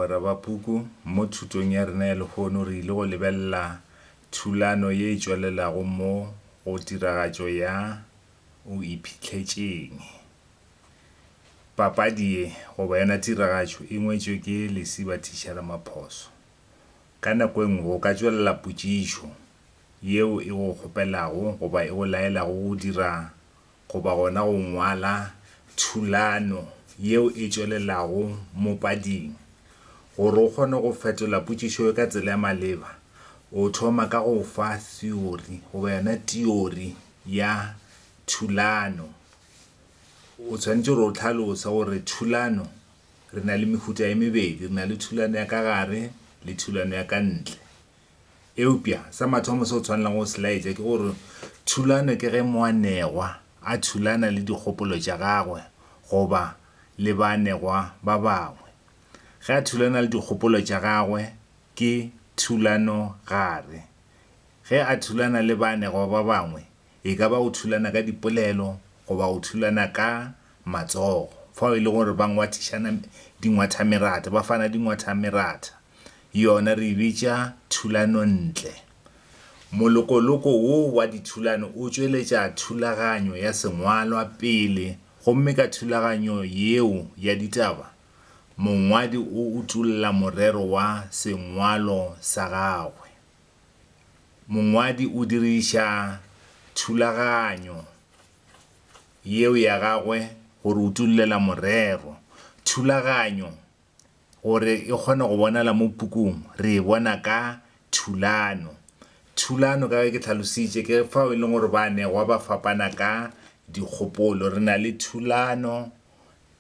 Bagwera ba Puku, Mo thutong ya rena ya lehono re ile go lebelela thulano ye e tšwelelago mo go tiragatšo ya O Iphitlhetše'ng. Papadi ye, goba yona tiragatšo, e ngwetšwe ke Lesiba Thisha Ramaphoso. Ka nako e nngwe o ka tšwelela potšišo yeo e go kgopelago goba e go laelago go dira goba gona go ngwala thulano yeo e tšwelelago mo pading. Gore o kgone go fetola potšišo ye ka tsela e maleba, o thoma ka go fa theori goba yona tiori ya thulano. O tshwanetše gore o hlalose gore thulano re na le mehuta e mebedi, re na le thulano ya ka gare le thulano ya ka ntle. Eupša sa mathomo se o tshwanelago go se laetša ke gore thulano ke ge moanegwa a thulana le dikgopolo tša gagwe goba le baanegwa ba bangwe. Ge a thulana le dikgopolo tša gagwe ke thulano-gare. Ge a thulana le baanegwa ba bangwe E ka ba go thulana ka dipolelo goba go thulana ka matsogo, fao e lego gore ba ngwathišana dingwathameratha, ba fana dingwathameratha, yona re e bitša thulanontle. Molokoloko wo wa dithulano o tšweletša thulaganyo ya sengwalwa pele gomme ka thulaganyo yeo ya ditaba, mongwadi o utolla morero wa sengwalo sa gagwe. mongwadi o diriša thulaganyo yeo ya gagwe go re utullela morero. Thulaganyo gore e kgone go bonala mo pukung, re e bona ka thulano. Thulano ka ge ke tlhalositše ke fao e leng gore baanegwa ba fapana ka dikgopolo. Re na le thulano.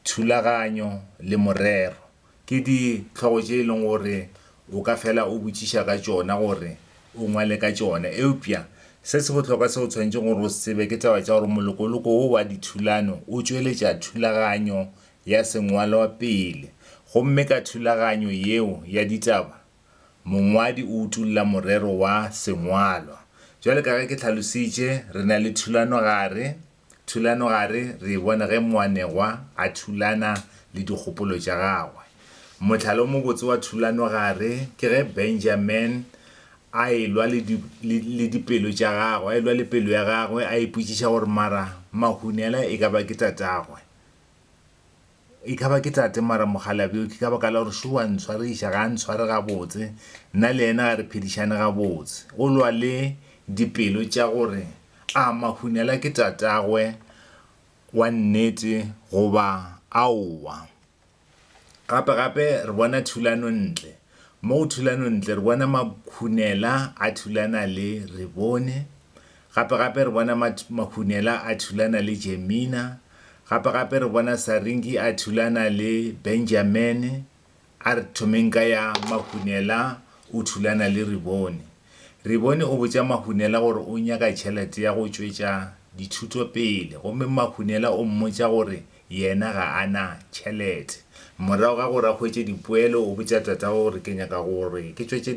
Thulaganyo le morero ke dihlogo tše e leng gore o ka fela o botšiša ka tšona gore o ngwale ka tšona. Eupša se se bohlokwa seo o tshwanetšego gore o se tsebe ke taba tša gore molokoloko wo wa dithulano o tšweletša thulaganyo ya sengwalwa pele, gomme ka thulaganyo yeo ya ditaba mongwadi o utolla morero wa sengwalwa. Bjale ka ge ke hlalositše, re na le thulanogare, Thulanogare re e bona ge moanegwa a thulana le dikgopolo tša gagwe. Mohlala o mobotse wa thulanogare ke ge Benjamin a e-lwa le di, le, le dipelo tša gagwe, a e-lwa le pelo ya gagwe, a ipotšiša gore, Mara Mahunela e ka ba ke tatagwe? E ka ba ke tate mara mogalabi o ke ka baka la gore šo wa ntshwariša, ga a ntshware gabotse, nna le yena ga re phedišane gabotse. O lwa le dipelo tša gore a Mahunela ke tatagwe wa nnete goba aowa. Gape-gape re bona thulanontle. Mo go thulanontle re bona Mahunela a thulana le Rebone, Gape-gape re bona Mahunela a thulana le Jemina. Gape-gape re bona Saringi a thulana le Benjamene. A re thomeng ka ya Mahunela o thulana le Ribone. Ribone o botša Mahunela gore o nyaka tšhelete ya go tšwetša dithuto pele gomme Mahunela o mmotša gore yena ga a na tšhelete. Morago ga gore a hwetše dipoelo o botša tatagwe gore ke nyaka gore ke tšwetše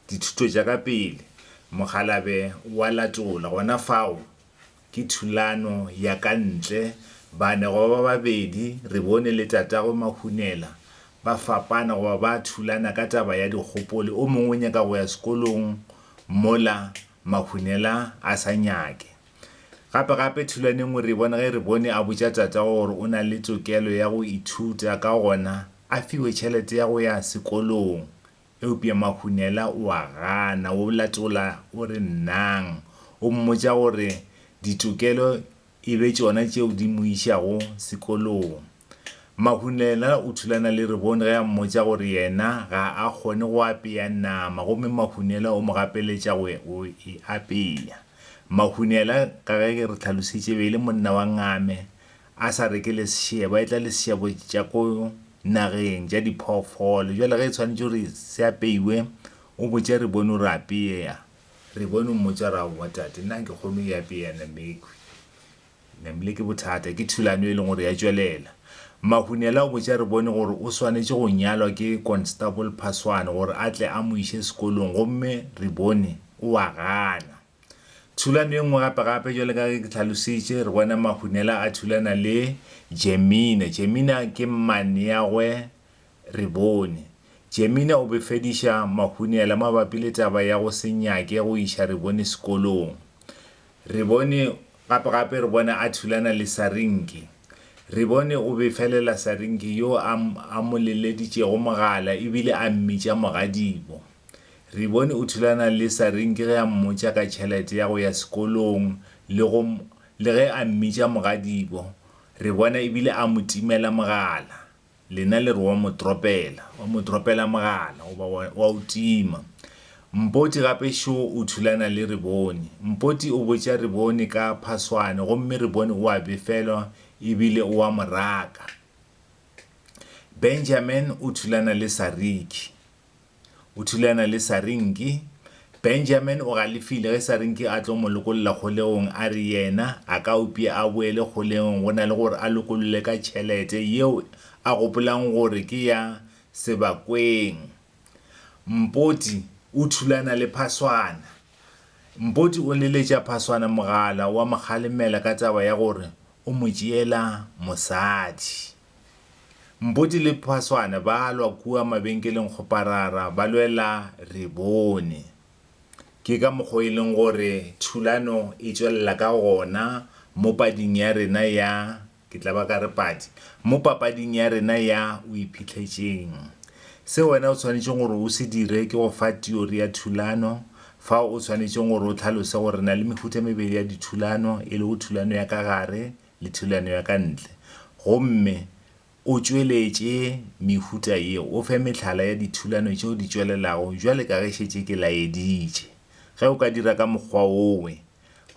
dithuto tša ka pele, mokgalabje wa latola. Gona fao, ke thulano ya ka ntle, bane goba ba babedi, re bone le tatago Mahunela, ba fapana goba ba thulana ka taba ya dikgopoli, o mongwe o nyaka go ya sekolong mola Mahunela a sa nyake. Gape gape thulano e nngwe re e bona ge re bone a botša tatago gore o na le tokelo ya go ithuta, ka gona a fiwe tšhelete ya go ya sekolong. Eupša Mahunela o a gana, o latola o re nnang. O mmotša gore ditokelo e be tšona tšeo di mo išago sekolong. Mahunela o thulana le Rebone ge a mmotša gore yena ga a kgone go apea nama gomme Mahunela o mo gapeletša go go e apea. Mahunela, ka ge ke re tlhalošitše, be e le monna wa ngame, a sa reke le sešebo, a etla le sešebo tša ko nageng tša diphoofolo. Bjale ge e swanetše gore se apeiwe, o botše re bone gore apeea. Re bone o mmotša gore aowa tate, nna nke kgone e apeea nama ekhwi. Namile ke bothata, ke thulano e leng gore ya tšwelela. Mahunela o botša re bone gore o swanetše go nyalwa ke Constable Phaswane gore a tle a mo iše sekolong gomme re bone o a gana. Thulano e nngwe gape-gape, bjalo ka ge ke hlalositše, re bona Mahunela a thulana le Jemina. Jemina ke mmaneagwe Rebone. Jemina o befediša Mahunela mabapi le taba ya go se nyake go iša Rebone sekolong. Rebone gape-gape re bona a thulana le Sarinki. Rebone o befelela Sarinki yo a mo leleditšego mogala e bile a mmitša mogadibo. Re bone o thulana le Saring ke ge a mmotša ka tšhelete ya go ya sekolong le go le ge a mmitša mogadibo re bona ebile a mo timela mogala. Lena le re wa mo dropela, wa mo dropela mogala goba wa wa o tima. Mpoti gape šo o thulana le Rebone. Mpoti o botša Rebone ka phaswane gomme Rebone o a befelwa ebile o a mo raka. Benjamin o thulana le Sariki. O thulana le Sarinki. Benjamin o galefile ge Sarinki a tlo mo lokolla kgolegong a re yena a ka upša a boele kgolegong go na le gore a lokollwe ka tšhelete yeo a gopolang gore ke ya Sebakweng. Mpoti o thulana le Phaswana. Mpoti o leletša Phaswana mogala wa mo kgalemela ka taba ya gore o mo tšeela mosadi. Mpoti le Phaswane ba lwa kua mabenkeleng Kgoparara ba lwela Rebone. Ke ka mokgwa o e leng gore thulano e tšwelela ka gona mo pading ya rena ya, ke tla ba ka re padi, mo papading ya rena ya O Iphitlhetšeng. Se wena o swanetšeng gore o se dire ke go fa teori ya thulano, fao o swanetšeng gore o tlhalose gore re na le mehuta e mebedi ya dithulano, e lego thulano ya ka gare le thulano ya ka ntle, gomme o tšweletše mehuta ye, o fe mehlala ya dithulano tšeo di tšwelelago bjale ka ge šetše ke laeditše. Ge o ka dira ka mokgwa wowe,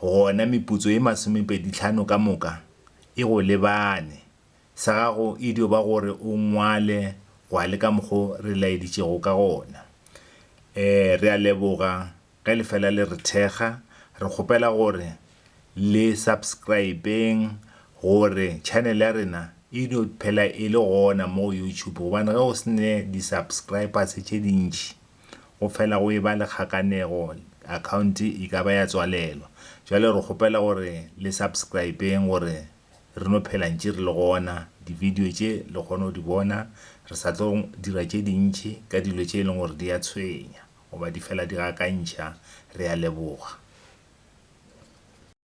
gona meputso ye masomepedihlano ka moka e go lebane. Sa gago e dio ba gore o ngwale gwa le ka mokgo re laeditšego ka gona. Ee, re a leboga. Ge le fela le re thekga, re kgopela gore le subscribeng gore channel ya rena e dio phela e le gona mo go YouTube gobane ge o sene di subscribers tše dintši go fela go eba le kgakanego, account e ka ba ya tswalelwa. Bjale re kgopela gore le subscribeng gore re no phela ntše re le gona, di video tše le kgone go di bona, re sa tlo dira tše dintši ka dilo tše e leng gore di a tshwenya. goba di fela di gakantšha, re a leboga.